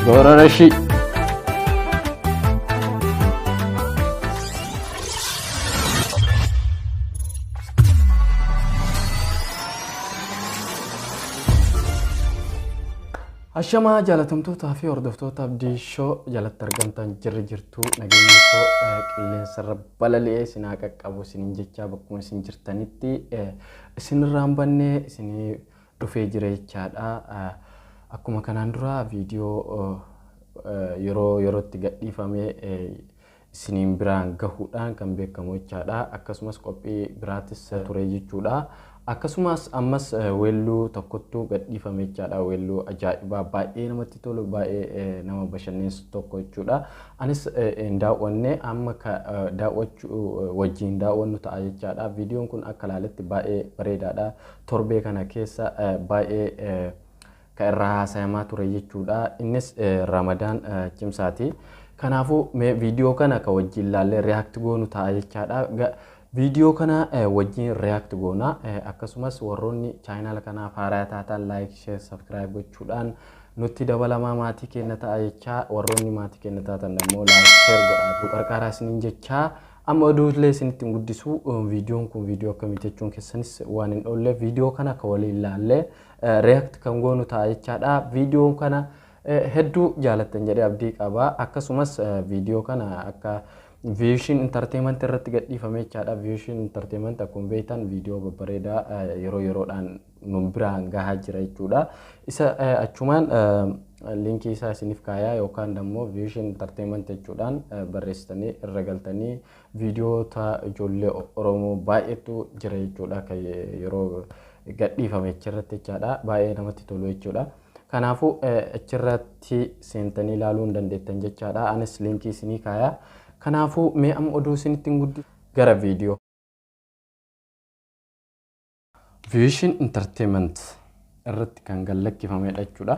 Gorora shi. Ashamaa jaalatamtootaa fi hordoftoota abdii shoo jalatti argamtan jirri jirtuu nageenya koo qilleensarra balali'ee sinaa qaqqabu sinin jechaa bakkuma isin jirtanitti Isin irraa hin banne isinii dhufee jira jechaadha. Akkuma kanaan duraa viidiyoo yeroo yerootti gadhiifamee isiniin biraan gahuudhaan kan beekamu jechaadha. Akkasumas qophii biraatis ture jechuudha. Akkasumas ammas weelluu tokkottu gadhiifame jechaadha. Weelluu ajaa'ibaa baay'ee namatti tolu baay'ee nama bashannansiisu tokko jechuudha. Anis hin daawwanne amma ka daawwachu wajjiin daawwannu ta'a jechaadha. Viidiyoon kun akka ilaaletti baay'ee bareedaadha. Torbee kana keessa baay'ee ka irraa haasayamaa ture jechuudha. Innis Ramadaan cimsaati. Kanaafuu mee viidiyoo kana ka wajjiin ilaallee react goonu ta'a jechaadha. Video kana wajjin react goona. Akkasumas warroonni channel kanaaf haaraya taatan like, share, subscribe gochuudhaan nutti dabalamaa maatii keenna ta'a jechaa warroonni maatii keenna taatan ammoo like, share godhaatu qarqaaraa isiniin jechaa amma oduullee isinitti hin guddisu viidiyoon kun viidiyoo akkamii jechuun keessanis waan hin oolleef viidiyoo kana akka waliin ilaallee react kan goonu ta'a jechaadha. Viidiyoo kana Hedduu jaalattan jedhee abdii qaba. Akkasumas viidiyoo kana akka Vision Entertainment irratti gadhiifame jechaadha. Vision Entertainment akkuma beektan viidiyoo babbareedaa yeroo yeroodhaan nun biraan gahaa jira jechuudha. Isa achumaan liinkii isaa isiniif kaayaa yookaan immoo Vision Entertainment jechuudhaan barreessitanii irra galtanii viidiyoota ijoollee Oromoo baay'eetu jira jechuudha. Kan yeroo gadhiifame achirratti jechaadha. Baay'ee namatti tolu jechuudha. Kanaafuu achirratti seentanii ilaaluu hin dandeettan jechaadha. Anis liinkii isinii kaaya. Kanaafuu mee amma oduu isinitti hin guddi gara viidiyoo. Vision Entertainment irratti kan gad lakkifamedha jechuudha.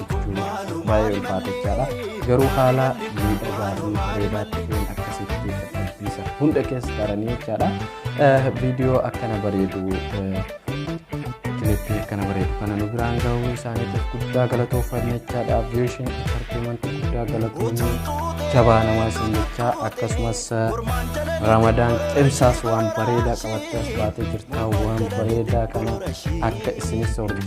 jechuun baay'ee ulfaatachaadha. Garuu haala miidhagaa fi bareedaa ta'een akkasitti dadhabbiisa hunda keessa taranii jechaadha. Viidiyoo akkana bareedu kilippii akkana bareedu kana nu biraan ga'uu isaaniitiif guddaa galatoofanna jechaadha. Aviyeeshin intarteemanti guddaa galatoonni jabaa namaa isin jechaa akkasumas ramadaan cimsaas waan bareedaa qabattee as baatee jirtaa waan bareedaa kana akka isinis hordofu.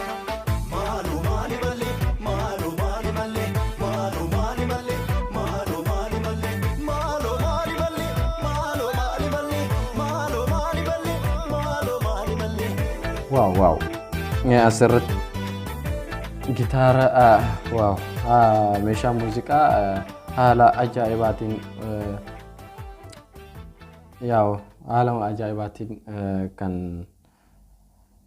Waaw waaw. Asirratti gitaara waaw meeshaa muuziqaa haala ajaa'ibaatiin yaa'u haala ajaa'ibaatiin kan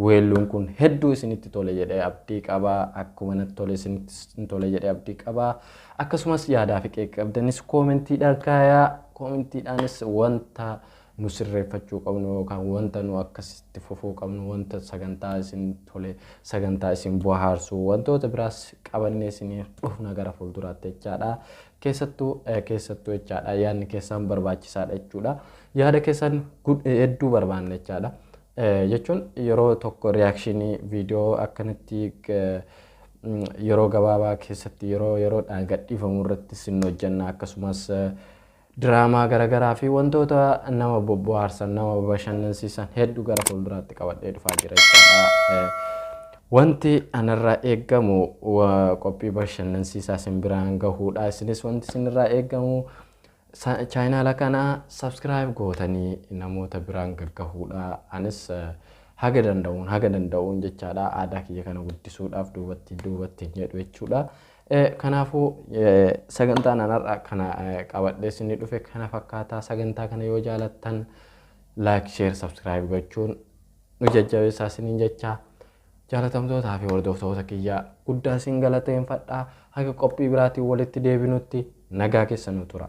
Weelluun kun hedduu isinitti tole jedhee abdii qaba. Akkuma natti tole isinittis hin tole jedhee abdii qaba. Akkasumas yaadaa fi qeeqa qabdanis koomentiidhaan kaayaa. Koomentiidhaanis wanta nu sirreeffachuu qabnu yookaan wanta nu akkasitti fufuu qabnu wanta sagantaa isin tole sagantaa isin bohaarsu wantoota biraas qabannee isinii dhufna gara fuulduraatti jechaadha. Keessattuu eh, keessattuu jechaadha yaadni keessan barbaachisaadha jechuudha. Yaada keessan gud- hedduu barbaanna jechaadha. jechuun yeroo tokko riyaakshinii viidiyoo akkanatti yeroo gabaabaa keessatti yeroo yeroodhaan gadhiifamu irratti sin hojjenna akkasumas diraamaa garaagaraa fi wantoota nama bohaarsan nama bashannansiisan hedduu gara fuulduraatti qabadhee dhufaa jira jechuudha. Wanti anarraa eegamu qophii bashannansiisaa sin biraan gahuudha. Isinis wanti sinirraa eegamu Chaayinaala kana subscribe gootanii namoota biraan gaggahuudha. Anis haga danda'uun haga danda'uun jechaadha aadaa kiyya kana guddisuudhaaf duubatti duubatti hin jedhu jechuudha. Kanaafuu sagantaan anarraa kana qabadhee isinii dhufe kana fakkaataa sagantaa kana yoo jaalattan like share subscribe gochuun nu jajjabeessaa isiniin jechaa Jaalatamtootaa fi hordoftoota kiyya guddaan sin galateenfadha. Haga qophii biraatiin walitti deebinutti nagaa keessa nu tura.